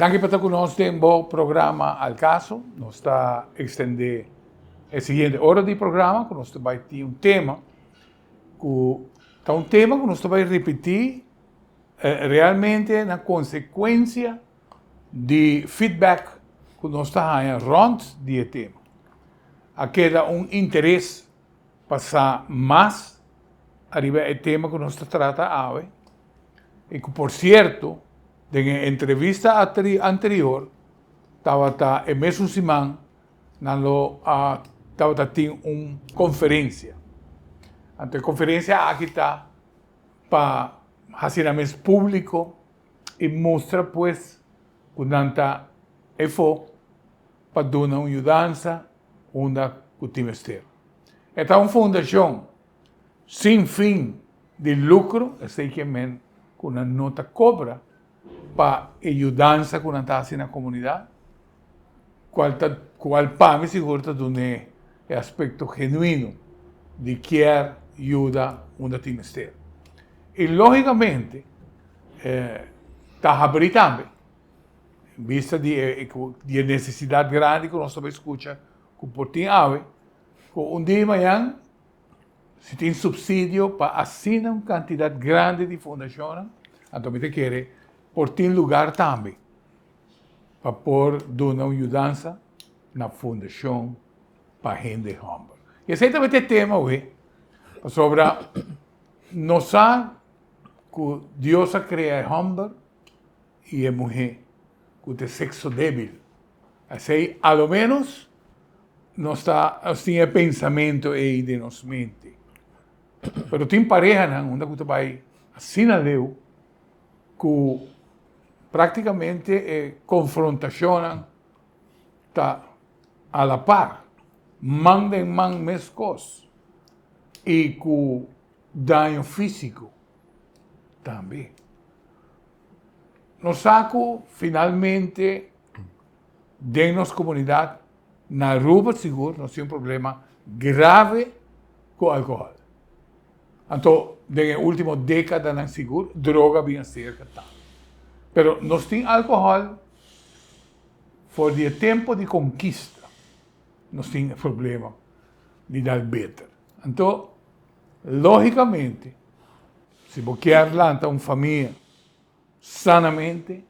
Danki pa ta ku nos den bo programa Al Caso. Nos ta ekstendé e siguiente ora di programa ku nos ta bai tin un tema ku ta un tema ku nos ta bai ripití realmente na konsekuensia. di feedback cu nos ta haña rond di e tema, a keda un interes pa sa mas ariba e tema cu nos ta trata awe y cu por cierto den e entrevista anterior tabata e mesun siman nan lo a tabata tin un conferencia. Anto e conferencia aki ta pa haci nan mes publico. I mustra pues ku nan ta efó pa duna un yudansa unda ku tin mester. E ta un fundashon sin fin di lukro, esei ke men ku nan no ta kobra pa e yudansa ku nan ta hasi na komunidat, cual ta, cual pa mi sigur ta dun'e e aspecto genuino di kier yuda unda tin mester. Y logicamente eh, ta habri tambe, bista di e, di e necesidad grandi cu nos ta bay scucha cu por tin awe, cu un dia mañan si tin subsidio pa asina un cantidad grandi di fundacionnan, anto mi ta kere por tin lugar tambe. pa por duna un yudansa na Fundashon pa Hende Hòmber. I esei tabata e tema awe, pasobra nos sa ku Dios a krea e hòmber i e muhé ku ta e sekso débil. Asei alo ménos nos ta, nos tin e pensamentu ei den nos mente. Pero tin parehanan unda ku ta bai asina leu ku Práktikamente e konfrontashonnan ta a la par, man den man meskos i ku daño físiko tambe. Nos sa ku finalmente den nos komunidat Na Aruba sigur nos tin un problema grave cu alcohol. Anto den e ultimo decadanan sigur droga bin a ser getado. Pero nos tin alcohol for di e tempo di conquista nos tin e problema di dal beter. Anto logicamente si bo kier lanta un famia. Sanamente,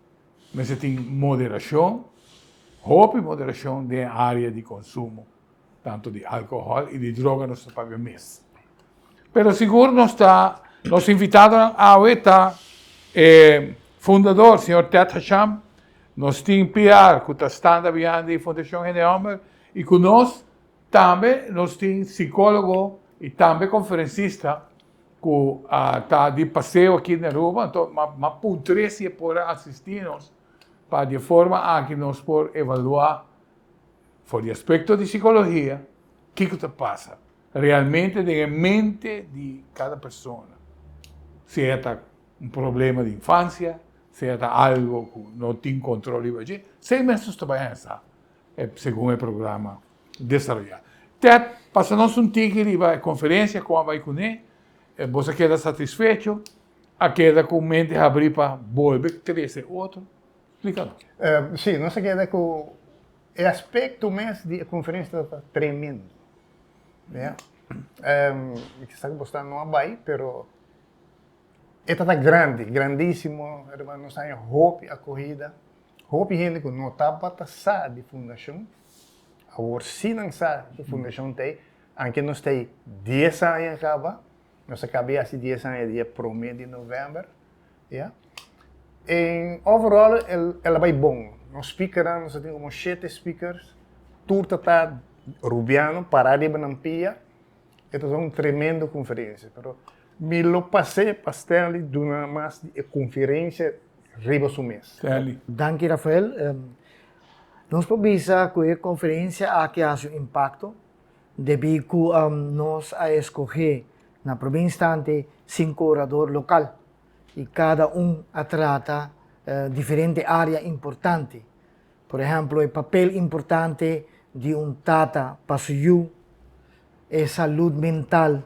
mester tin moderashon, hopi moderashon den e área di konsumo, tantu di alkohòl i di droga nos ta paga mes. Pero sigur nos ta, nos invitadonan awe ta e fundador, señor Ted Hasham, nos tin PR ku ta standa bihain e Fundashon Hende Hòmber i ku nos tambe nos tin sikólogo i tambe konferensista, ku a ta di paseo aki na Aruba, anto m'a puntr'é si e por a asistí nos pa di e forma aki nos por evaluá for di aspekto di sikologia kiko ta pasa realmente den e mente di kada persona, sea ta un problema di infansia, sea ta algu ku no tin kontrol riba dje, esei mes nos ta bai anhesá. segun e programa desaroyá. Ted pasa nos un tiki riba e konferensia ku a bai kuné. Boso a keda satisfecho? A keda ku mente habrí pa bolbe trese otro? Splika nos. Sí, nos a keda ku e aspekto mes di e konferensia tabata tremendo. Kisá ku bo sta no a bai, pero e tabata grandi, grandísimo. Nos haña hopi akohida. Hopi hende ku no tabata sa di fundashon, awor si nan sa ku fundashon ta ei. Anke nos ta ei dies aña kaba, nos a kaba yasi dies aña dia promé di novèmber, ya. En overall el a bai bon. Nos spíkernan, nos a tin komo shete spíkers, tur ta ta rubiano pará riba nan pia, e ta sa un tremendo konferensia. Pero mi lo pas'é pa Stanley duna mas di e konferensia. riba su mes. Teli. Danki Rafael. Nos por bisa ku e konferensia aki a hasi un impakto debí ku nos a eskohé na promé instante sinku orador lokal i kada un a trata diferente área importante. Por ehèmpel, e papel importante di un tata pa su yu, e salud mental.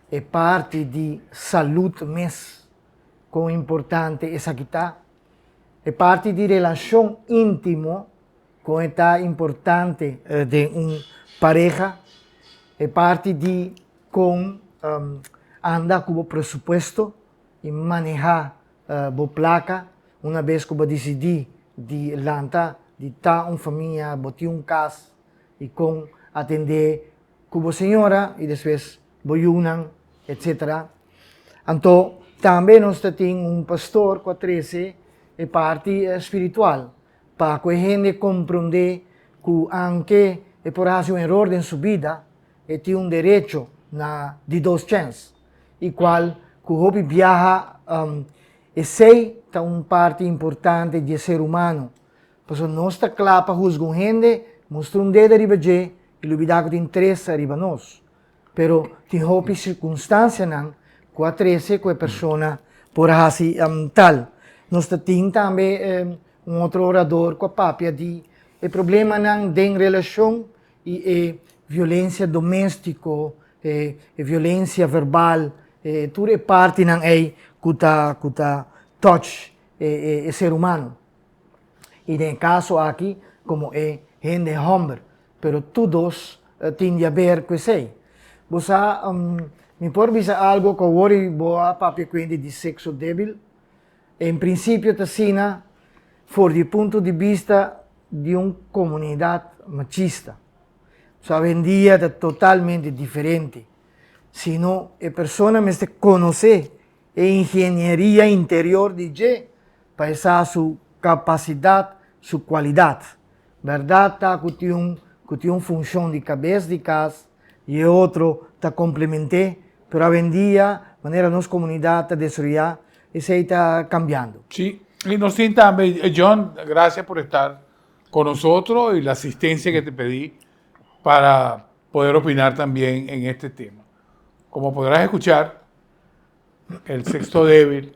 E parti di salud mes, kon importante esaki ta. E parti di relashon íntimo, kon e ta importante den un pareha. E parti di kon anda ku bo presupuesto i manehá bo plaka una bes ku bo a disidí di lanta, di ta un famia, bo tin un kas i kon atendé ku bo señora i despues bo yunan etc. Anto tambe nos ta tin un pastor ku a trese e parti spiritual pa ku e hende komprondé ku aunke e por hasi un eror den su bida e tin un derecho na di dos chèns i kual ku hopi biaha esei ta un parti importante di e ser humano Pasobra nos ta kla pa husga un hende, mustra un dedo riba dje i lubidá ku tin trese riba nos. Pero tin hopi sirkunstansianan ku a trese ku e persona por a hasi tal. Nos ta tin tambe un otro orador ku a papia di e problemanan den relashon i e violensia doméstiko, e violensia verbal, e tur e partinan ei ku ta touch e ser humano. y den e caso aki como e hende homber pero tur dos tin di haber cu esey. Bo sa mi por bisa algo cu awor bo a papia cu hende di sexo debil? En principio ta asina for di e punto di bista di un comunidad machista. Bo sa awendia ta totalmente diferente, sino e persona mester conoce e ingenieria interior di dje. Pa e sa su capacidad, su cualidad. Berdad ta cu tin un cu tin un funcion di cabes di cas y e otro ta complemente, pero awendia manera nos comunidad ta desroya esey ta cambiando. Si, y nos tin tambe e John, gracias por estar con nosotros y la asistencia que te pedi para poder opinar tambien en este tema. Como podrás escuchar el sexto debil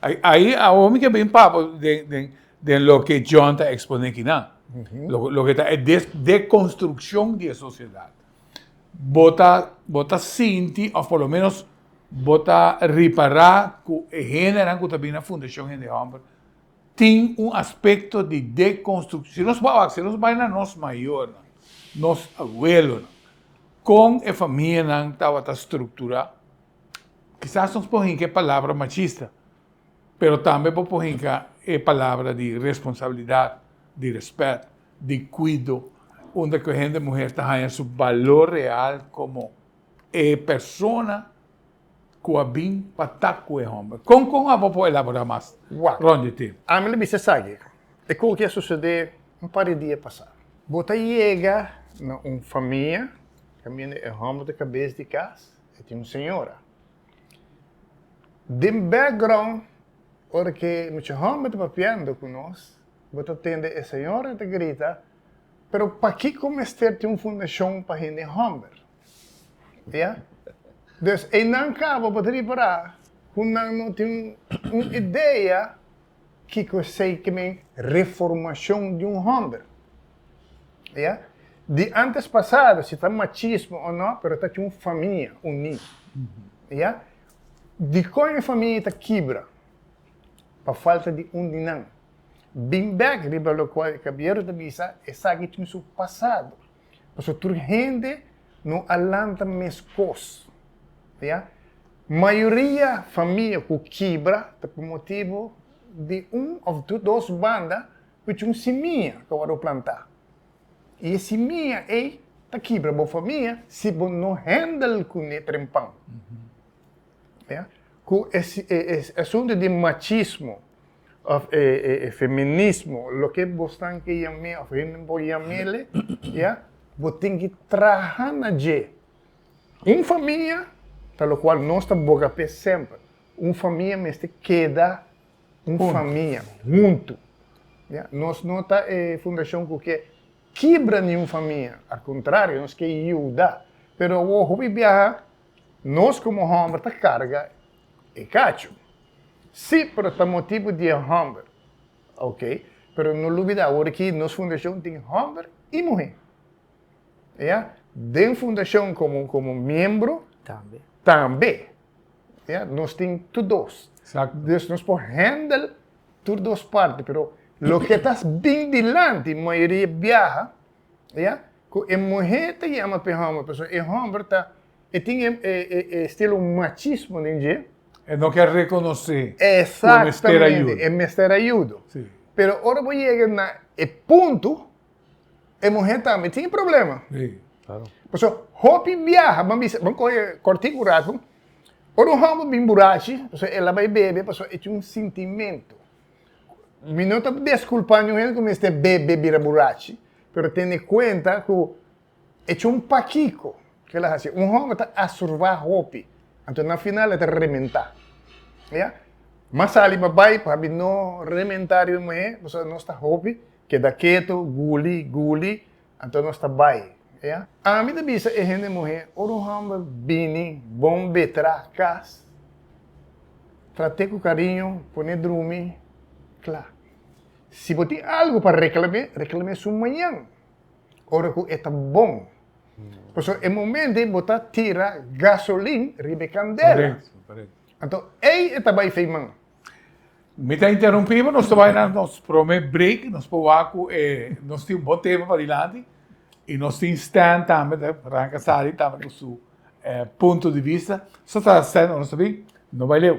Ahi awor mi ke bin papa den loke John ta ekspone kinan, loke ta e dekonstrukshon di e sosiedat. Bo ta, bo ta sinti of por lo menos bo ta ripará ku e hendenan ku ta bin na Fundashon Hende Hòmber tin un aspekto di dekonstrukshon. Si nos wak, si nos bai na nos mayornan, nos abuelonan, kon e famianan tabata strukturá? Kisas nos por hinka e palabra machista, pero tambe bo por hinka e palabra di responsabilidat, di rèspèt, di kuido, unda ku e hende muher ta haña su balor real komo e persona ku a bin pa ta ku e hòmber. Kon kon abo por elaborá mas, Ron JT? Ami lo bisa esaki, e kon ki a susedé un par di dia pasá. Bo ta yega na un famia, kaminda e hòmber ta kabes di kas. E tin un señora den background, ora ke mucha homber ta papiando ku nos, bo ta tende e señora ta grita, Pero pakiko mester tin un fundashon pa hende homber? Ya? Dus einan kaba bo ta ripará ku nan no tin un idea. kiko esei ke men reformashon di un hòmber. Ya? Di antes pasado, si ta machismo o no, pero ta cu un famia uní. Ya? Dikon e famia ta kibra? Pa falta di un di nan. Bin bèk riba lokual e kabiero ta bisa, esaki tin su pasado. Paso tur hende no a lanta meskos. Ya? Mayoria famia ku kibra ta pa motibu di un of dos banda ku cu un simia ku awor bo planta. I e simia ei ta kibra bo famia si bo no handle kune trempan. Ya? Ku e asuntu di machismo. of e e feminismo, loke bo stan ke yam'é of hende por yam'ele, ya, bo tin ki traha na dje. Un famia, ta lokual nos ta boga p'e semper, un famia mester keda un famia, huntu, ya. Nos no ta e fundashon ku ke kibra niun famia, al kontrario, nos ke yuda. Pero awo hopi biaha Nos komo hòmber ta karga e kachu. Sí, pero ta motibu di e hòmber. Oke, pero no lubidá awor aki nos fundashon tin hòmber i muhé. Ya. Den fundashon komo, komo miembro. Tambe. Tambe. Ya. Nos tin tur dos. Eksakto. Dus nos por hèndel tur dos parti, pero loke ta bin dilanti mayoria biaha. ya, cu e muhe ta yama p'e homber, pasobra e homber ta, e tin e, e, e, e estilo machismo den dje. E no ker reconoce cu e mester ayudo. Exactamente, e mester ayudo. Si. Pero ora bo yega na e punto, e muhe tambe tin e problema. Si, claro. Pasobra hopi biaha, bo a bisa, bo a coge cortico rato, ora un homber bin burachi, pasobra el a bay bebe, pasobra e tin un sintimento. Mi no ta desculpa niun hende cu mester bebe bira burachi, pero tene cuenta cu e chun pakico cu el a haci. Un homber ta asurva hopi, anto na final e ta rementa. Ya? Mas sali pa bay, pabi no rementa riba muhe, pasobra nos ta hopi, keda keto, guli, guli. Anto nos ta bai. Oia. Ami ta bisa e hende muhé, ora un homber bini bon betrá kas, trat'é ku kariño, pon'é drumi kla. Si bo tin algu pa reklam'é, reklam'é su mañan, ora ku e ta bon. Pasobra e momentu ei bo ta tira gasolin riba e kandela. Anto ei e ta bai fei man. Mi ta interrumpi bo, nos ta bai na nos prome break, nos por wak ku e, nos tin un bon tema padilanti, i nos tin Stan tambe ta ranka sali tambe ku su eh, punto di vista. So ta Stan, ora nos ta bin, no bai leu.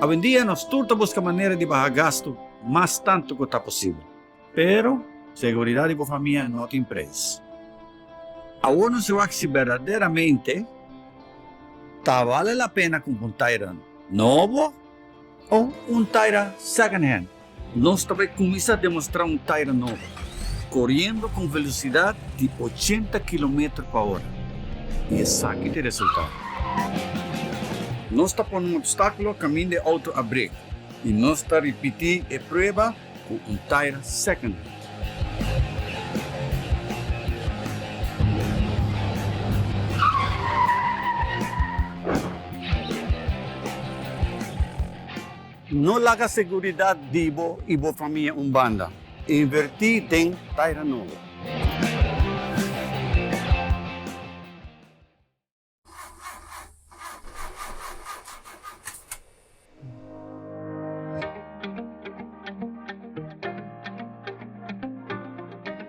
Awendia nos tur ta buska manera di baha gastu mas tantu ku ta posibel. Pero, seguridat di bo famia no tin preis. Awor nos a wak si berdaderamente ta bale la pena kump un taira nobo o un taira second hand. Nos ta bai kuminsá demostrá un taira nobo, koriendo ku un velosidat di ochenta kilometer pa ora, i esaki ta e resultado. Nos ta pone un opstákulo kaminda e outo a brek i nos ta ripití e prueba ku un taira secondhand. No laga seguridat di bo i bo famia un banda. Invertí den Taira Nobo.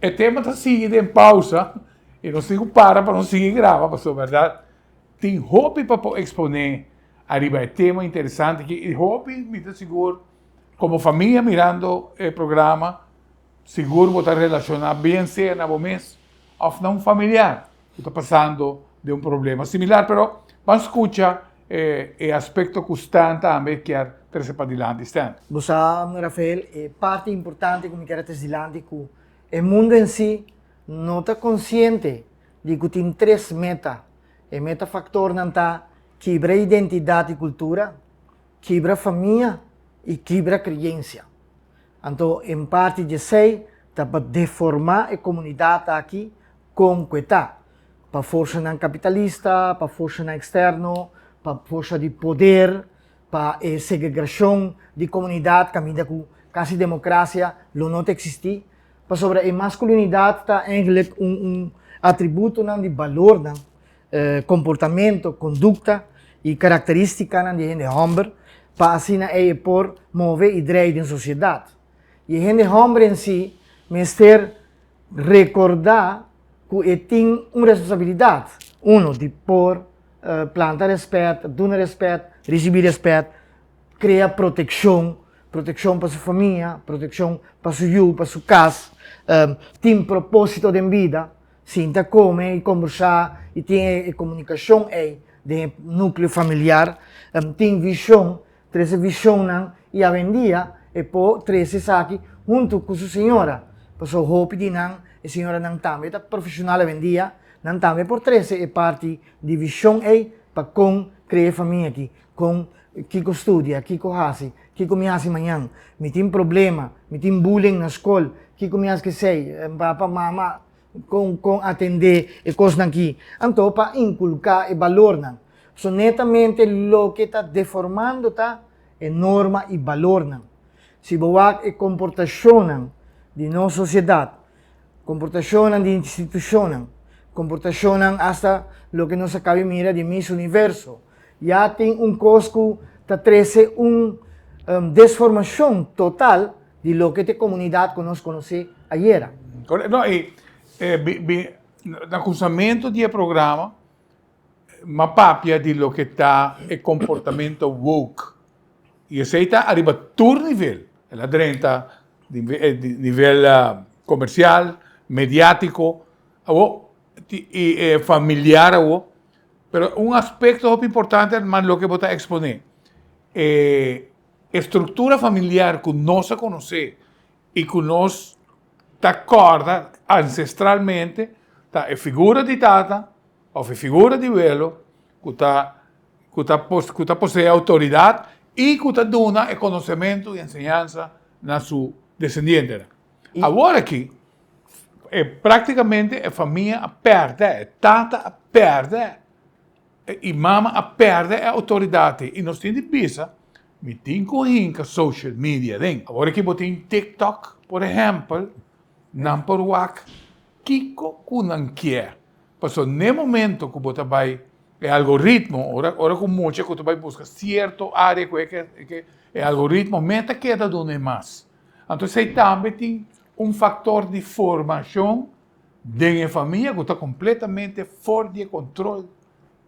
E tema ta sigui den pausa y nos tin cu para pa nos sigui graba pasobra verdad tin hopi pa por expone ariba e tema interesante aki y hopi mi ta sigur como famia mirando e programa sigur bo ta relaciona bien sea na bo mes of na un familiar. Cu ta pasando den un problema similar, pero ban scucha e aspecto cu Stan tambe kier trece pa dilanti. Stan. Bo sa, Mnu. Rafael, e parti importante cu mi kier a traci dilanti cu e mundo en si no ta consciente di cu tin tres meta. E meta factornan ta kibra identidad y cultura, kibra famia y kibra creyencia. Anto en parti dje esey ta pa deforma e comunidad aki kon ku e ta, pa forsanan kapitalista, pa forsanan eksterno, pa forsa di poder, pa e segegrashon di komunidat kaminda ku kasi demokrasia lo no ta eksistí, pasobra e maskulinidat ta eigentlik un un atributonan di balornan, komportamentu, kondukta i karakterístikanan di hende hòmber pa asina ei e por move i drei den sosiedat. Y e hende homber en si mester recorda cu e tin un responsabilidad, uno, di por planta respet, duna respet, ricibi respet, crea proteccion, proteccion pa su famia, proteccion pa su yu, pa su cas, tin proposito den bida, sinta come y combersa y tin e comunicacion ey den e nucleo familiar, tin vision Trese vishonnan i awendia e po trese esaki huntu ku su señora, paso hopi di nan e señoranan tambe ta profeshonal awendia, nan tambe por trese e parti di vishon ei pa kon krea e famia aki, kon kiko studia, kiko hasi, kiko mi hasi mañan, mi tin problema, mi tin bullying na skol, kiko mi has ke sei, papa, mama. Con con atende e cosnan ki. Anto pa inculca e balornan. So netamente loke ta deformando ta e norma y balornan. Si bo wak e comportacionnan di nos sociedad, comportacionnan di institucionnan, comportacionnan hasta loke nos a cabe mira di Miss Universo, ya tin un cos cu ta trece un desformacion total. Di loke ta e komunidat ku nos konosé ayera. Korek. No, i bin na kuminsamentu di e programa m'a papia di loke ta e komportamentu woke. I esei ta ariba tur nivel. El a drenta di nivel komersial, mediátiko awo, i familiar awo. Pero un aspekto hopi importante, herman, loke bo ta eksponé. E. E struktura familiar ku nos a konosé i ku nos ta kòrda ansestralmente ta e figura di tata òf e figura di welo ku ta ku ta ku ta posee outoridat i ku ta duna e konosementu i enseñansa na su desendientenan. Awor aki, e praktikamente e famia a pèrdè, e tata a pèrdè E imam a perde e autoridad y nos tin di bisa, mi tin cu hinca social media den. Awor ki bo tin TikTok, por ehempel, nan por wak kico cu nan kier. Paso n'e momento cu bo ta bay e algoritmo, ora cu mucha cu ta bay busca cierto area cu e e algoritmo me ta keda duna e mas. Anto esey tambe tin un factor di formacion Den e famia ku ta kompletamente for di e kontrol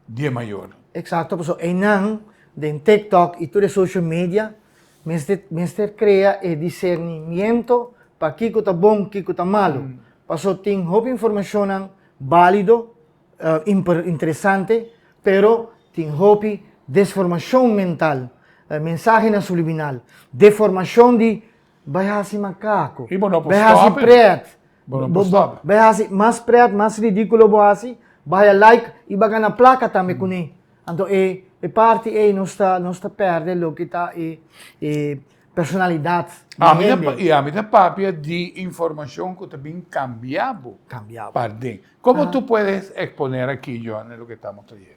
di e mayor. Eksakto, pasobra einan den TikTok i tur e social media mester mester krea e disernimiento pa kiko ta bon, kiko ta malu. Paso tin hopi informashonnan balido, interesante, pero tin hopi desformashon mental, mensahenan subliminal, deformashon di bai hasi makaku, bai hasi pret. Bai hasi mas pret, mas ridiculo bo hasi, bai a like y ba gana placa tambe cune. Anto e e parti ey nos ta nos ta perde loke ta e e personalidad di hende. Y ami ta papia di informacion cu ta bin cambia bo. Cambia bo. Parden. Como tu puedes exponer aki Johanne loke tamo trayendo?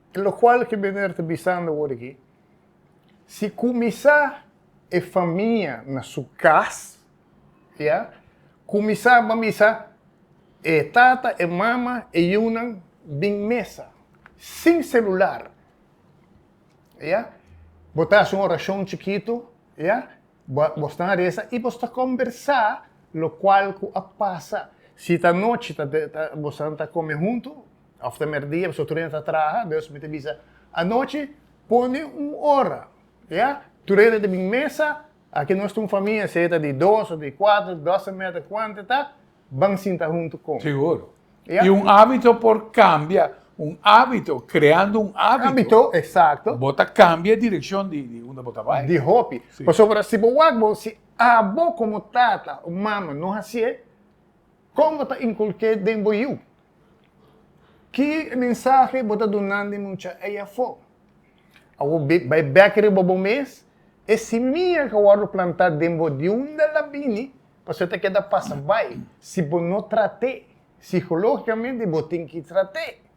E locual ki Bener ta bisando ora aki, si cuminsa e famia na su cas, ya, cuminsa ban bisa e tata, e mama, e yunan bin mesa, sin celular, ya, bo ta haci un oracion chikito, ya, bo stan a reza y bo sta combersa locual cu a pasa, si ta anochi ta bo santa a come hunto, Of ta merdia, pasobra tur hende ta traha, dus mi ta bisa, Anochi pone un ora, ya, tur hende ta bin mesa, aki nos ta un famia, sea ta di dos of di kuater, dos en mete kuantu e ta, ban sinta huntu kon. Seguro. I un ábito por kambia, un ábito, kreando un ábito. Ábito, eksakto. Bo ta kambia e direkshon di unda bo ta bai. Di hopi. Pasobra si bo wak bo, si abo komo tata o mama no hasié. Kon bo ta inkulk'é den bo yu? Ki mensahe bo ta dunandi mucha ei afó? Awor bo bai bèk riba bo mes, e simia ku a wòrdu plantá den bo di unda el a bini, pasobra el ta keda pasa bai si bo no trat'é. Sikológikamente bo tin ki trat'é.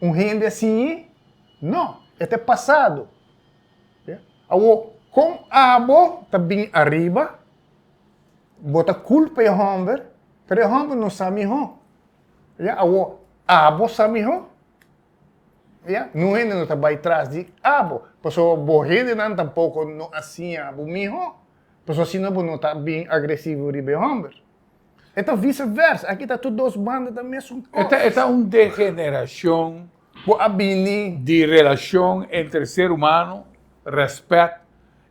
Un hende así i? No, e ta e pasado. Awor, kon abo ta bini ariba, bo ta kulpa e hòmber, pero e hòmber no sa mihó. Awor, abo sa mihó. Ningún hende no ta bai tras di abo, pasobra bo hendenan tampoko no a siña bo mihó, pasobra asina bo no ta bini agresivo riba e hòmber. E ta viceversa, aki ta tur dos banda ta mesun cos. E ta, e ta un degeneracion. Bo a bini. Di relacion entre ser humano, respect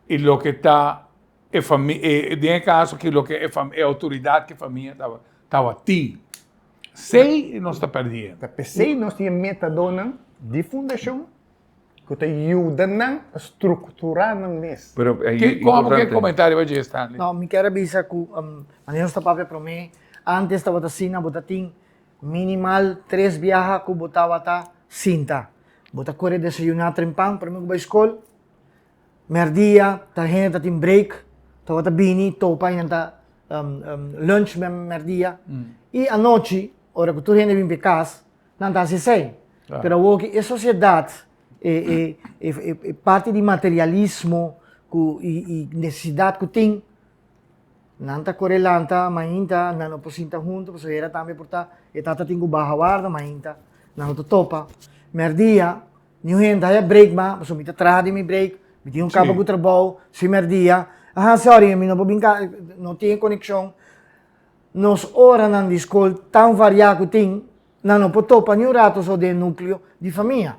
y loke ta e famia, den e caso aki loke e famia, e autoridad ki famia ta, taba tin. P'esey nos ta perdi hende. Ta p'esey nos tin e metadonan di fundacion. ku ta yuda nan pa strukturá nan mes. Pero e Ki komo importante. ke komentario bo dje, Stanley? No, mi kier a bisa ku mane nos ta papia promé, antes tabata asina, bo ta tin minimal tres biaha ku bo tabata sinta. Bo ta kore desayuná trempan promé ku bai skol, mèrdia ta hende ta tin break, tabata bini topa i nan ta lunch mèrdia i anochi ora ku tur hende bin p'e kas, nan ta hasi esei. Claro. Pero awor ki e sosiedat, e, e, e, e, e parti di materialismo ku, i, i nesesidat ku tin, nan ta kore lanta mainta, nan no por sinta huntu, pasobra e hera tambe por ta, e tata tin ku baha warda mainta, nan lo ta topa. Mèrdia, niun hende haya break mas, pasobra mi ta traha den mi break, mi tin un kaba ku trabou, si mèrdia, a ha, sòri, mi no por bin ka, no tin e konekshon. Nos oranan di skol tan variá ku tin nan no por topa niun rato so den e nukleo di famia.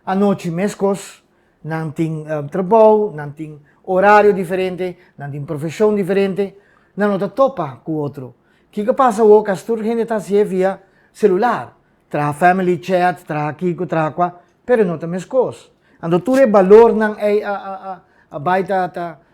Anochi meskos, nan tin trabou, nan tin orario diferente, nan tin profeshon diferente, nan no ta topa ku otro. Kiko a pasa wok as tur hende ta hasié via selular? Traha family chat, traha kiko, traha kua, pero no ta meskos. Anto tur e balornan ei a bai ta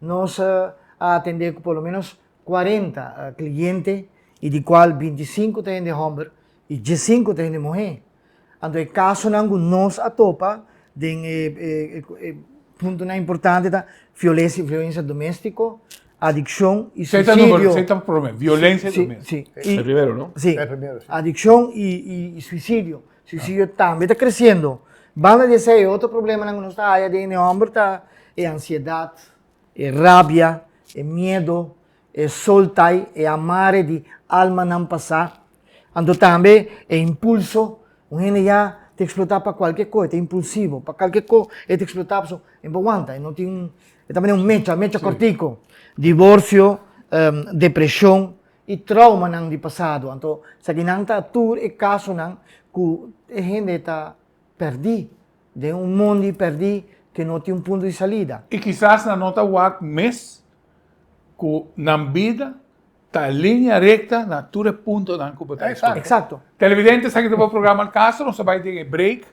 Nos a atendé ku por lo ménos kuarenta kliente i di kual bintisinku ta hende hòmber i diesinku ta hende muhé. Anto e kasonan ku nos a topa den e puntonan importante ta fiolesia violensia doméstiko, adikshon i suisidio. Sei ta promé? Violensia doméstiko. E primero no? Si. E primero si. Adikshon i suisidio. Si si yo tambe ta kresiendo. Banda di esei e otro problemanan ku nos ta haya den e hòmber ta e ansiedat, e rabia, e miedu, e soltai, e amare di almanan pasá. Anto tambe e impulso. Un hende ya ta eksplotá pa kualke ko, e ta impulsivo. Pa kalke ko e ta eksplotá pasobra e no wanta, e no tin, e ta manera un mecha, mecha kòrtiku. Divorsio, depreshon, i traumanan di pasado. Anto esaki nan ta tur e kasonan ku e hende ta pèrdí den un mondi pèrdí ku no tin un punto di salida. I kisas nan no ta wak mes ku nan bida ta linea recta na tur e puntonan ku bo ta esplika. Eksakto. Televidentes, esaki ta bo programa El Caso. Nos a bai den e break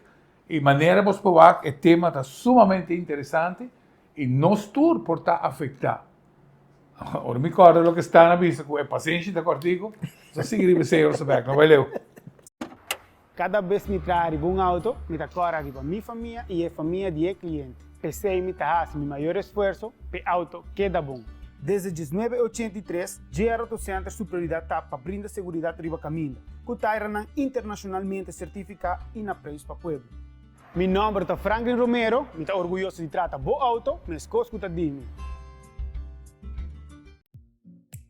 i manera bos por wak e tema ta sumamente interesante. I nos tur por ta afectá. Ora mi corda loke Stan a bisa cu e pasenshi ta cortico, nos a sigui riba Señor su bek, no bai leu. Cada bes mi traha riba un auto, mi ta cora riba mi famia i e famia di e cliente. P'esei mi ta haci mi mayor esfuerso p'e auto keda bon. Desde diesnuebe ochenta i tres, JR Auto Center su prioridad ta pa brinda seguridad riba caminda, cu tairanan internacionalmente certificá i na preis pa pueblo. Mi nomber ta Franklin Romero. Mi ta orguyoso di trata bo auto meskos ku ta di mi.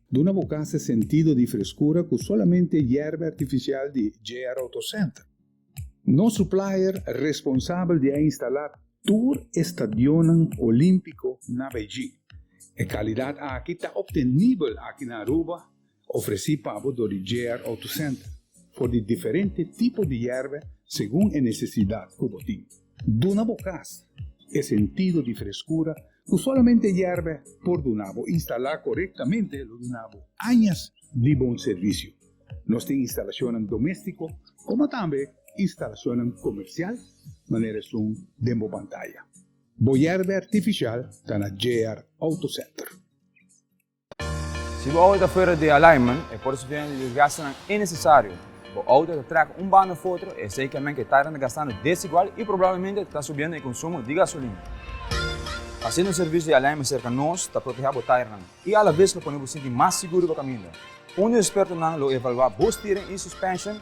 Duna bo kasa sentido di freskura ku solamente yerba artifisial di JR Auto Center. Nos supplier responsabel di a instalá tur e stadionnan olímpiko na Beijing. E kalidat aki ta obtenibel aki na Aruba Ofresí pabo dor di JR Auto Center for di diferente tipo di yerbe segun e nesesidat ku bo tin. Duna bo kas e sentido di freskura ku solamente yerbe por duna bo. Instalá korektamente lo duna bo añas di bon servisio. Nos tin instalashonnan doméstiko komo tambe instalashonnan komersial manera esun den bo pantaya. Bo yerbe artifishal ta na JR Auto Center. Si bo auto ta fuera di alignment, e por sufriendo di desgastenan innesesario. Bo auto ta traca un banda of otro, esey ke men ke tainan ta gastando desigual y probablemente ta subiendo e consumo di gasolina. Haciendo un servicio di alignment cerca nos ta proteha bo tainan y a la vez lo pone bo sinti mas seguro pa caminda. Un di nos expertonan lo evalua bo steering y suspension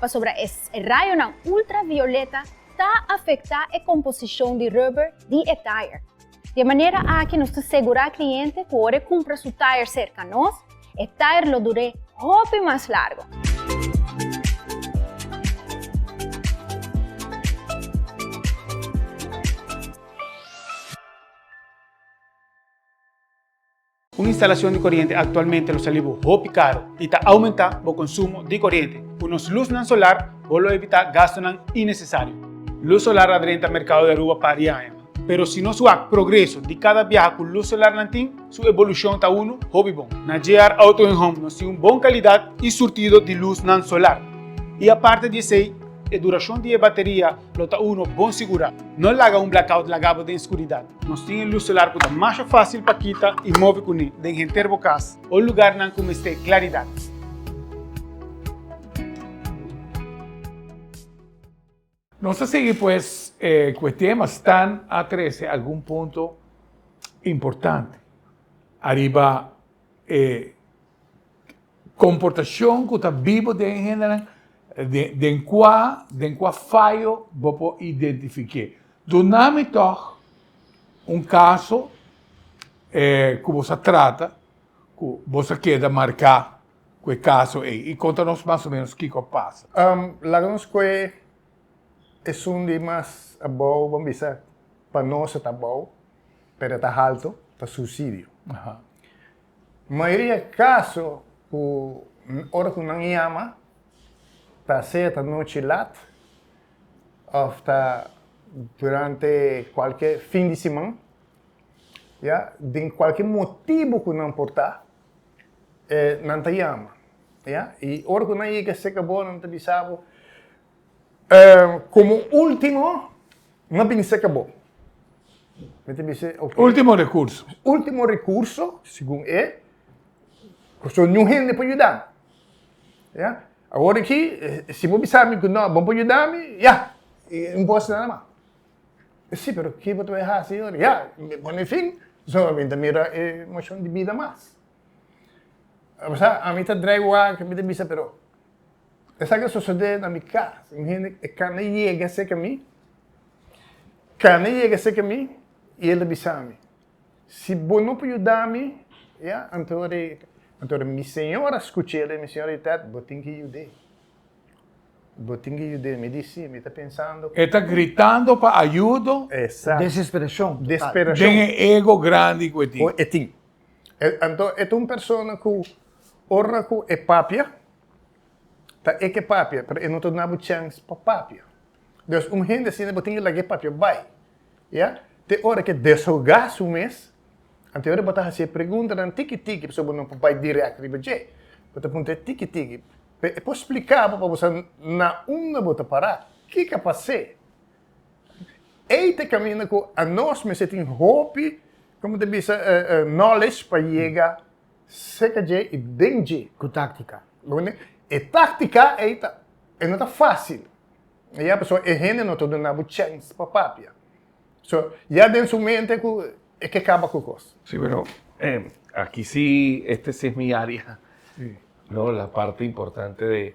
pasobra e rayonan ultravioleta ta afektá e komposishon di rùber di e tayer. Di e manera aki nos ta segurá kliente ku ora e kumpra su tayer serka nos, e tayer lo dur'é hopi mas largu. Un instalacion di coriente actualmente lo sali bo hopi caro y ta aumenta bo consumo di coriente. Cu nos luznan solar bo lo evita gastonan innecesario. Luz solar a drenta mercado di Aruba par di aña, pero si nos wak progreso di cada biaha cu luz solar nan tin, su evolucion ta unu hopi bon. Na JR Auto en Home nos tin un bon calidad y surtido di luznan solar. Y aparte di esey, e duracion di e bateria Lo ta uno bon sigurá. No laga un blackout laga bo den skuridat. Nos tin e lus solar ku ta masha fásil pa kita i move kuné den henter bo kas o lugarnan ku mester klaridat. Nos ta sigui pues ku e tema Stan a trese algun punto importante ariba e. Komportashon ku ta biba den e hendenan den kua den kua fayo bo por identifiké. Duna mi tòg un kaso ku bo sa trata ku bo sa keda marká ku e kaso ei i konta nos mas o menos kiko a pasa. Laga nos kue esun di mas abou bo bisa pa nos e ta abou pero e ta haltu, ta susidio. Mayoria kaso ku ora ku nan yama ta sea ta nochi lat òf ta durante kualke fin di siman, ya, den kualke motibu ku nan por ta, nan ta yama, ya. I ora ku nan yega serka bo nan ta bisa bo. E komo último, mi a bini seka bo. Mi ta bis'é, ok. Último rekurso. Último rekurso, segun e, ku so niun hende por yuda mi. Ya. Awor aki, si bo bisa mi ku no, bo no por yuda mi, ya, no por hasi nada mas. Sí, pero ke bo ta bai hasi yora? Ya, mi a pone fin, so mi ta mira e moshon di bida mas. Ami ta drái wak, mi ta bisa, pero. Esaki a sosodé na mi kas. Mi hende e kana yega serka mi, kana yega serka mi, i el a bisa mi, Si bo no por yuda mi, ya, anto ora e, anto ora mi señor a skuch'é, mi señor a di, Ted, bo tin ke yud'é. Bo tin ke yud'é. Mi di, Sí, mi ta pensando. E ta gritando pa ayudo. Esatto. Desesperashon total. Desperashon. Den e ego grandi ku e tin. Ku e tin. E, anto e ta un persona ku ora ku e papia, ta e ke papia, pero e no ta na bo chèns pa papia. Dòs un hende asina bo tin ke laga e papia bai, ya, te ora ke deshogá su mes, anto e ora bo ta hasi e preguntanan tiki tiki, pasobra bo no por bai dirèkt riba dje. Bo ta punta e tiki tiki, p'e por spliká bo pa bo sa na unda bo ta pará, kiko a pas'é. Ei ta e kaminda ku anos mester tin hopi, como ta bisa, knowledge pa yega serka dje i den dje. Ku táktika. E táktika ei ta, e no ta fásil, ya, pasobra e hende no ta duna bo chèns pa papia. So, ya den su mente ku e ke kaba ku kos. Sí, pero aki sí, este sí es mi área, no, la parte importante de.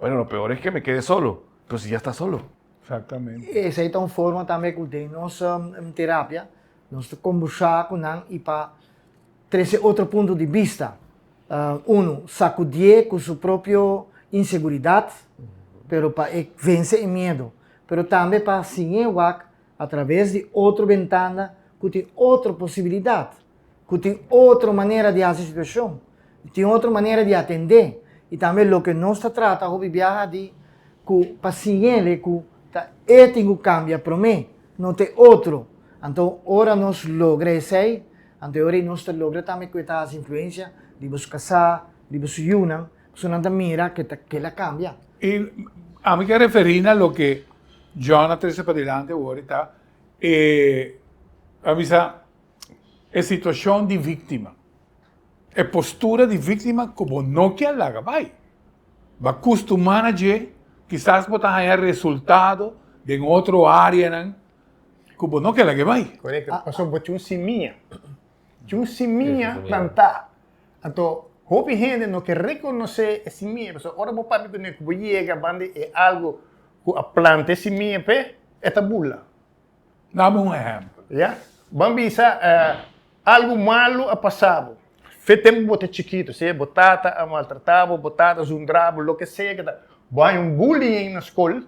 Bueno, lo peor es que me kede solo, pero si ya sta solo. Exactamente. E esei ta un forma tambe ku den nos terapia nos ta kombursá ku nan i pa trese otro punto di bista. Unu, sakudié ku su propio inseguridat, pero pa e vense e miedu. Pero tambe pa siñé wak atraves di otro bentana ku tin otro posibilidat. cu tin otro manera di haci situacion, tin otro manera di atende. Y tambe loke nos ta trata hopi biaha di cu pa siñele cu ta e tin cu cambia prome, no ta e otro. Anto ora nos logra esey, anto e ora y nos ta logra tambe cu e ta haci influencia di boso casá, di boso yunan, pasobra nan ta mira cu ta kila cambia. Y ami ta referi na loke John a trece padilanti awor y ta e, ta bisa, e situacion di victima, e postura di victima cu bo no kier laga bay. Bo a custumá na dje, kisas bo ta haña resultado den otro áreanan cu bo no kier lag'e bay. Correcto, pasobra bo tin un simiña, tin un simiña plantá. Anto, hopi hende no ke rekonosé e simiña, pasobra ora bo papia ku mi ku bo yega banda e algu ku a planta e simiña p'e, e ta burla. Dame un ehempel. Ya. Ban bisa algu malu a pasa bo. Fe tempu bo ta chikitu, sea bo tata a maltrata bo, bo tata a zundra bo, loke sea ke ta. Bo haña un bullying na skol,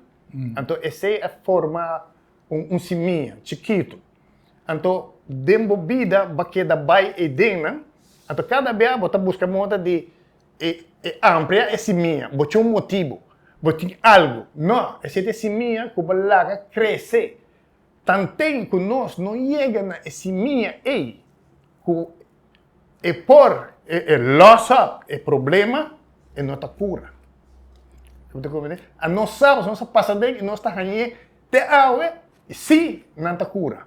anto esei a forma un simia chikitu. Anto den bo bida bo a keda bai ei den nan, anto kada bia bo ta buska mota di E ampre a e simia. Bo tin un motibu. Bo tin algu. No, esei ta e simia ku bo laga krese. Tanten ku nos no yega na e simia ei ku e por e lòs òp e problema, e no ta kura. Bo ta komprendé? Anos sa, pasobra nos a pasa den i nos ta hañ'é te awe, i sí, nan ta kura.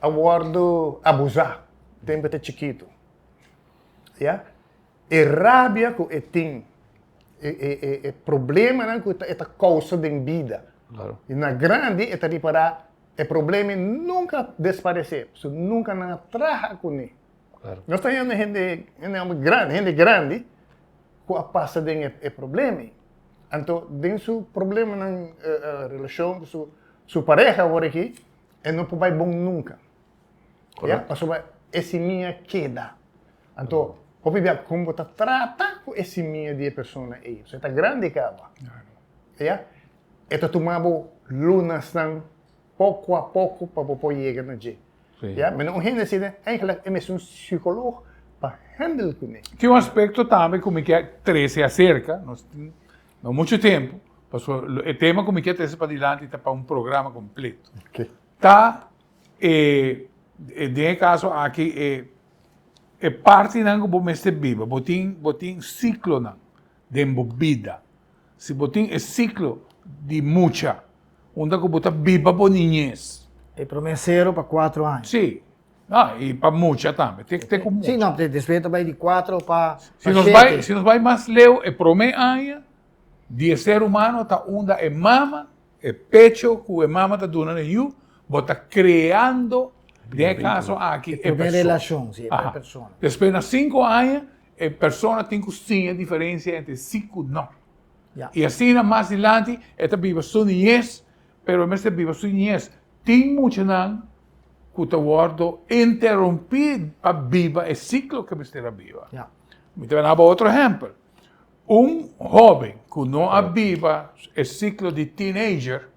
a wòrdu abusá tempu e ta chikitu. Ya? E rabia ku e tin, e e e e problemanan ku e ta kousa den bida, na grandi e ta ripará e problema ei nunka a desparesé, pasobra nunka nan a traha kuné. Nos ta hende hende hende hòmber grandi, hende grandi ku a pasa den e problema ei. Anto den su problemanan relashon ku su pareha awor aki. E no por bai bon nunca. Correcto. Pasobra e simia keda. Anto, hopi bia con bo ta trata cu e simia di e persona ey. So e ta grandi caba. Ya. E ta tuma bo lunasnan poco a poco pa bo por yega na dje. Si. Ya. Mi no un hende si ne, eigenlijk e mester un psicoloog pa handle cu ne. Tin un aspecto tambe cu mi ke trece acerca. Nos tin. No mucho tempo, pasobra lo e tema cu mi kier trece padilanti ta pa un programa completo. Okay. Ta e, e den e caso aki e, e partinan cu bo mester biba. Bo tin, bo tin ciclonan den bo bida. Si bo tin e ciclo di mucha, unda cu bo ta biba bo niñez. E prome cero pa cuatro aña. Si. Ah, y pa mucha tambe. Te, te con mucha. Sí, no, después te bay di cuatro pa, si nos bay, si nos bay mas leo, e prome aña, di e ser humano ta unda e mama, e pecho cu e mama ta duna na yu, bo ta creando, den e caso aki, e persona. Primer relacion, sí, e persona. Después na cinco aña, e persona tin cu siña diferencia entre sí cu no. Yeah. Y asina mas dilanti, e ta biba su niñez, Pero e mester biba su niñez. Tin muchanan cu ta wordo interumpi pa biba e ciclo cu e mester a biba. Ja. Mi ta daba otro ehempel. Un hoben cu no a biba e ciclo di teenager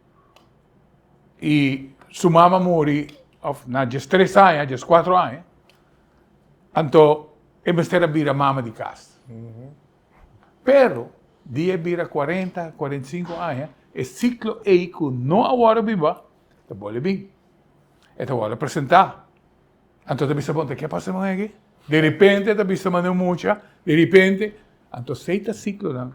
y su mama muri of na dies tres aña, dies cuatro aña, anto e mester a bira mama di cas. Pero, di e bira cuarenta, cuarenta y cinco aña, e ciclo ey cu no a worde biba, ta bole bin. E ta worde presenta. Anto ta bisa bon, ta ke pasa con aki? De repente ta bisa mane un mucha, de repente. Anto sey ta ciclonan.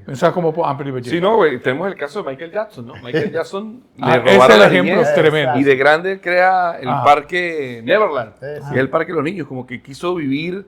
Pensa como por amper riba dje. Si no, tenemos el caso de Michael Jackson, no? Michael Jackson le robaron la niñez y de grande crea el parque Neverland, que es el parque de los niños, como que quiso vivir.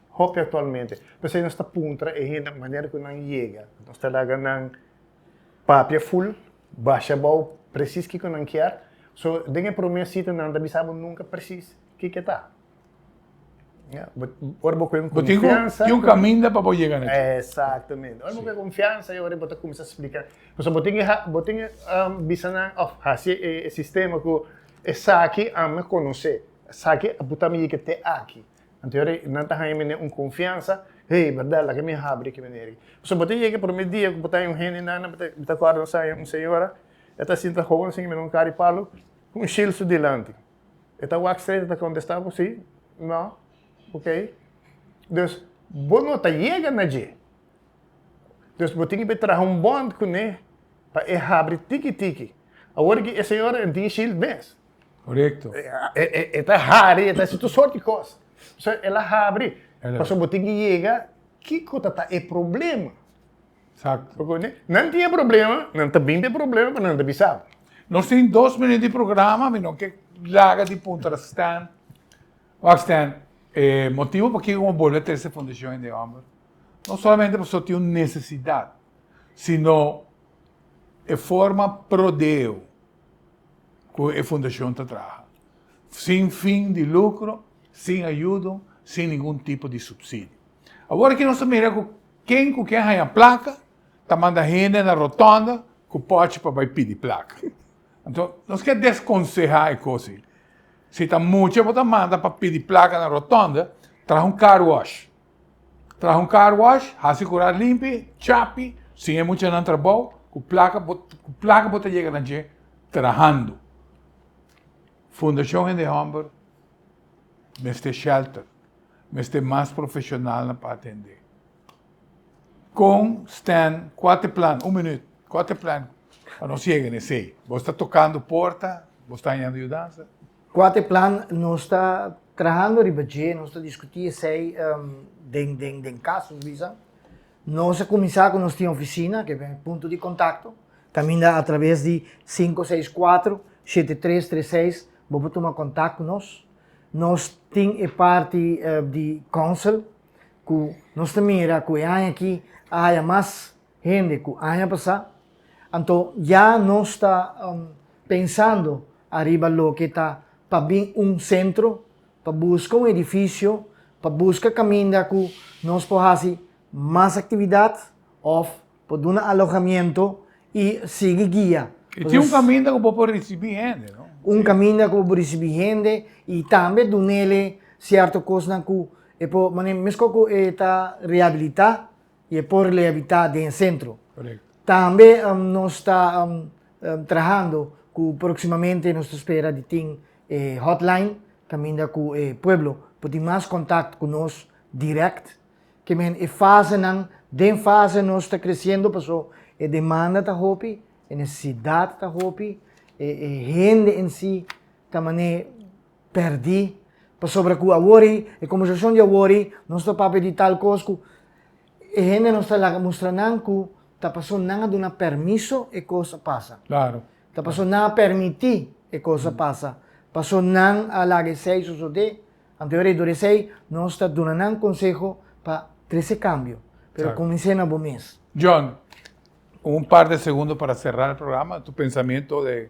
hopi aktualmente. P'esei nos ta puntra e hende manera ku nan yega. Nos ta laga nan papia ful, basha abou presis kiko nan kier. So, den e promé sitio nan no ta bisa bo nunka presis kiko e ta. Ora bo kohe kon konfiansa. Bo tin un kaminda pa bo yega na dje. Eksaktamente. Ora bo kohe konfiansa e ora bo ta kuminsá splika. Pasobra bo tin ke, bo tin ke bisa nan òf hasi e sistema ku esaki ame konosé, esaki a putam yega te aki. Anto yori nan ta haña mi den un konfiansa, Hey, berdad laga mi a habri ki manera aki. Pasobra bo ta yega promé dia ku bo ta haña un hende nan, bo ta kòrda nos a haña un señora, e ta sinta hoga nos encima di un kar di palu ku un shilsu dilanti. E ta wak stret, e ta kontestá bo sí, nò, okey. Dus, bo no ta yega na dje. Dus bo tin ke bai traha un bònt kuné pa e habri tiki tiki. Awor aki e señora a tin shild mes. Correcto. E ta hari, e ta hasi tur sort di cos. So, el a habri. Pasobra bo tin ki yega kiko ta ta e problema. Exacto. Bo kontende? Nan tin e problema, nan ta bin den e problema, pero nan ta bisa bo. Nos tin dos minuut di programa, mi no ke laga di puntra Stan. Wak Stan, e motibo pokiko bo bolbe trese e fundashon hende hòmber, no solamente pasobra tin un nesesidat, sino e forma prodeo. ku e fundashon ta traha, sin fin di lukro, sin ayudo, sin ningun tipo di supsidio. Awor aki nos ta mira ku ken ku ke haña plaka ta manda hende na rotonda ku pòchi pa bai pidi plaka. Anto nos ke deskonsehá e kos ei. Si ta mucha bo ta manda pa pidi plaka na rotonda, traha un car wash. Traha un car wash, hasi cu ra limpi, chapi, sin e muchanan trabou, cu placa bo cu placa bo ta yega na dje trahando. Fundacion Hende Homber mester shelter, mester mas profesional na pa atende. Con Stan Quateplan, un minuut, Quateplan, pa nos yega na esey. Bo sta tocando porta, bo sta hañando yudansa. Cua ta e plan? Nos ta trahando riba dje, nos ta discuti esey den den den cas Luisa. Nos a cuminsa cu nos tin oficina, cu e punto di contacto, caminda a traves di cinco seis cuatro shete tres tres seis bo por tuma contact cu nos. Nos tin e parti di council cu nos ta mira cu e aña aki a haya mas hende ku aña pasá, anto ya nos ta pensando ariba loke ta pa bin un sentro pa buska un edifisio pa buska kaminda ku nos por hasi mas aktividat òf por duna alojamiento i sigui guia. I tin un kaminda ku bo por risibí hende, no? Un kaminda ku bo por risibí hende i tambe dun'el e sierto kosnan ku e por manera meskos ku e ta rehabilitá Y e por le habita den e centro. Tambe nos ta trahando cu proximamente nos ta spera di tin e hotline caminda cu e pueblo por tin mas contact cu nos direct. Ke men e fasenan, den fase nos ta creciendo paso e demanda ta hopi, e necesidad ta hopi, e hende en si ta mane. pèrdí, pasobra ku awor ei, e kombersashon di awor ei, nos ta papia di tal kos ku e hende nos ta laga mustra nan ku ta pasó nan a duna permiso e kos a pasa. Klaro. Ta pasó nan a permití e kos a pasa. Pasó nan a laga esei sosodé. Anteor ei, dor esei, nos ta duna nan konseho pa trese kambio. Pero Exacto. kumins'é na bo mes. John, un par de segundo para será e programa, tu pensamentu de.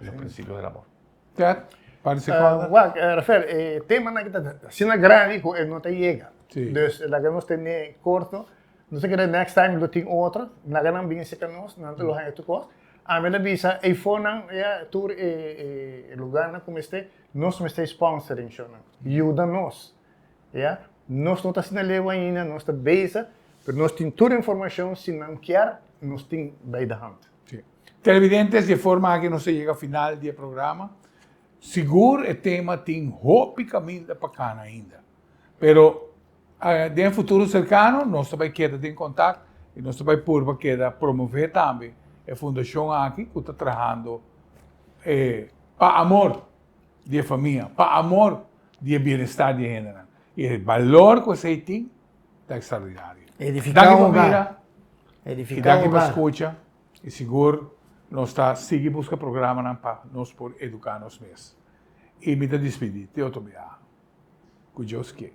Lo principio del amor. Ted, participar. Uh, wak, uh, Rafael, eh, tema na kita sina grandi ku eh, no ta yega. Sí. Dus, la que nos tene corto, no se queda next time lo tin otro, na que nan bin seca nos, nan te lo haya tu kos. A me la bisa, e fonan, ya, tur e, e, e lugar na como este, nos me stay sponsoring show nan. Yuda nos. Ya, nos no ta sina lewa ainda, nos ta beza, pero nos tin tur informacion, si nan kier, nos tin bij de hand. Televidentes, di e forma aki nos a yega final di e programa. Sigur e tema tin hopi kaminda pa kana ainda. Pero den e futuro serkano nos ta bai keda den kontak i nos ta bai purba keda promove tambe e fundashon aki ku ta trahando pa amor di e famia, pa amor di e bienestar di e hendenan. I e balor ku esei tin. ta extraordinario. Edifica un hogar. Edifica un hogar. Y danki pa escucha. Y sigur nos ta sigui busca programanan pa nos por educa nos mes. Y mi ta dispidi te otro biaha. Cu Dios kie.